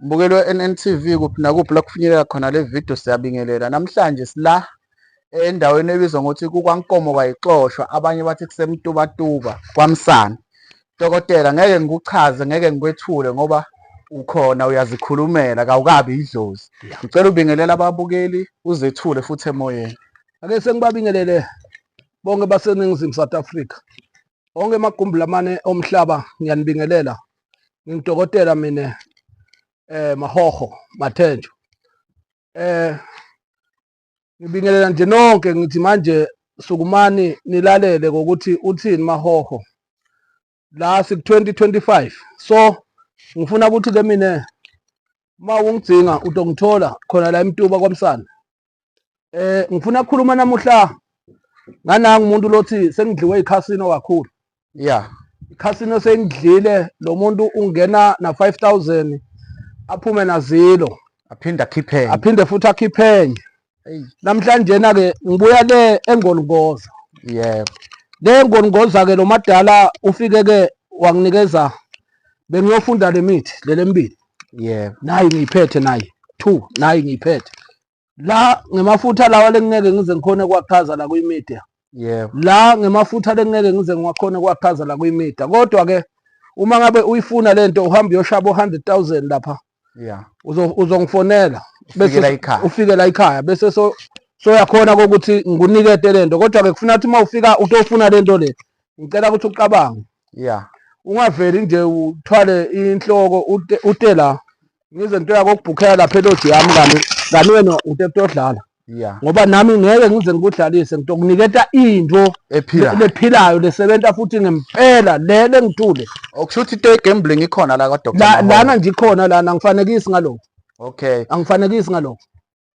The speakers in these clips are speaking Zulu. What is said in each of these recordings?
Mbukeli we-NNTV kuphi nakuphi la kufinyelela khona le video siyabingelela. Namhlanje sila endaweni ebizwa ngokuthi kukwankomo kwayixoshwa abanye bathi kusemtubatuba kwamsana. Dokotela ngeke ngikuchaze ngeke ngikwethule ngoba ukhona uyazikhulumela kawukabi idlozi. Ngicela ubingelela ababukeli uzethule futhi emoyeni. Ake sengibabingelele bonke baseNingizimu South Africa. Onke emagumbi lamane omhlaba ngiyanibingelela. ngidokotela mina eh mahoho mathenjo eh ngibingelela nje nonke ngithi manje sukumani nilalele ngokuthi uthini mahoho la siku 2025 so ngifuna ukuthi ke mina uma ungidzinga utongithola khona la emtuba kwamsana Eh ngifuna ukukhuluma namuhla nganangu umuntu lothi sengidliwe iCasino kakhulu. Yeah. iCasino sengidlile lo muntu ungena na 5000 aphume na zero. Aphinde akhiphe. Aphinde futhi akhiphe enye. Namhlanje na ke ngibuya le engolungoza. Yebo. Le engolungoza ke lo madala ufike ke wanginikeza bengiyofunda lemithi lelembili. yebo nayi ngiyiphethe nayi two nayi ngiyiphethe la ngemafutha lawa lengingeke ngize ngikhone kwakhaza la kwimedia yebo la ngemafutha lengingeke ngize ngiwakhone kwakhaza la kwimedia kodwa ke uma ngabe uyifuna lento uhamba uyoshaba 100000 lapha yeah uzo- uzongifonela bese Ufikela ekhaya. ufike la ekhaya bese so soyakhona kokuthi ngikunikete lento kodwa ke kufuna ukuthi uma ufika utofuna lento le ngicela ukuthi ucabange yeah ungaveli nje uthwale inhloko ute, ute la ngize nto yako kubhukhela lapha eloji yami kanti kanti wena utepto odlala yeah ngoba nami ngeke ngize ngikudlalise ngitokuniketa into ephila lephilayo lesebenza futhi ngempela le lengithule okusho ukuthi into ye-gambling ikhona la La- kwadoktor lana nje ikhona lana angifanekisi ngalokho okay angifanekisi ngalokho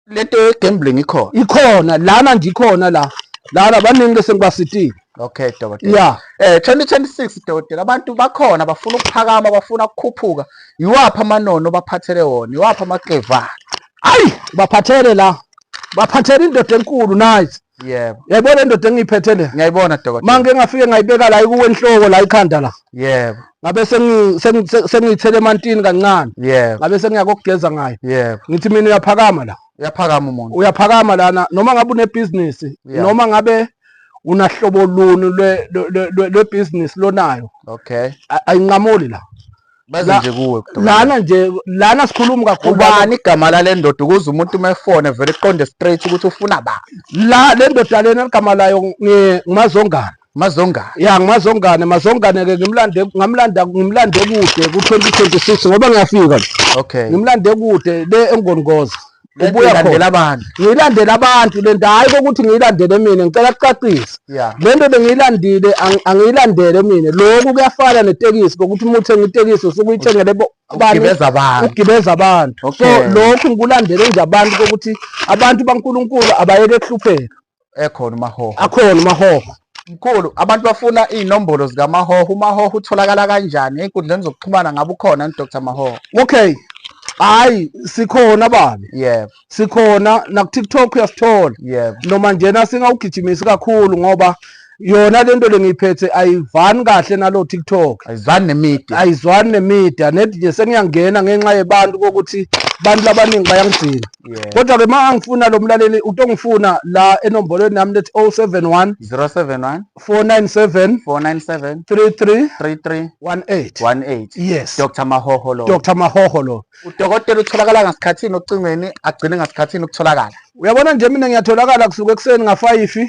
lento ye gambling ikhona ikhona lana nje ikhona la lana baningi bese ngibasitile okay dokotela yeah eh 2026 dokotela abantu bakhona bafuna ukuphakama bafuna ukukhuphuka yiwaphi amanono baphathele wona yiwaphi amaxevana ayi baphathele la baphathele indoda enkulu nice yebo yayibona indoda engiyiphethe le ngiyayibona dokotela manje ngafike ngayibeka la ikuwe enhloko la ikhanda la yebo ngabe sengiyithele emantini kancane yebo ngabe sengiya kokugeza ngayo yebo ngithi mina uyaphakama la uyaphakama umuntu uyaphakama lana noma ngabe unebhizinisi noma ngabe unahlobo luni lwebhizinisi lonayo okay ayinqamuli la baze nje kuwe lana nje lana sikhuluma kakhulu ubani igama lale ndoda ukuze umuntu uma efone vele iqonde straight ukuthi ufuna ba la le ndoda lena igama layo ngumazongane mazongane ya ngumazongane mazongane ke ngimlande ngamlanda ngimlande kude ku-2026 ngoba ngiyafika okay ngimlande kude le engongoza ubuya khona abantu ngiyilandela abantu lento hayi kokuthi ngiyilandele mina ngicela kucacisa lento bengiyilandile angiyilandele mina lokhu kuyafana netekisi kokuthi uma uthenga itekisi usuke uyithengele ugibeza abantu ugibeza abantu so lokhu ngikulandele nje abantu kokuthi abantu baNkuluNkulu abayeke kuhlupheka ekhona umahoho akhona umahoho mkhulu abantu bafuna iy'nombolo zikamahoho umahoho utholakala kanjani ey'nkundleni zokuxhumana ngabe ukhona ni dr mahoho okay hayi sikhona babi yebo sikhona nakutiktok uyasithola yebo noma njena singawugijimisi kakhulu ngoba yona lento lengiyiphethe ayivani kahle nalo TikTok ayizwani nemedia ayizwani nemedia net nje sengiyangena ngenxa yebantu kokuthi abantu labaningi bayangidinga Yeah. kodwa ke ma angifuna lo mlaleli utongifuna la enombolweni yami lethi 071 071 497 497 33 33 18 18 yes Dr Mahoho lo Dr Mahoho lo udokotela utholakala ngasikhathini ocingweni agcine ngasikhathini ukutholakala uyabona nje mina ngiyatholakala kusuka ekuseni ngafayifi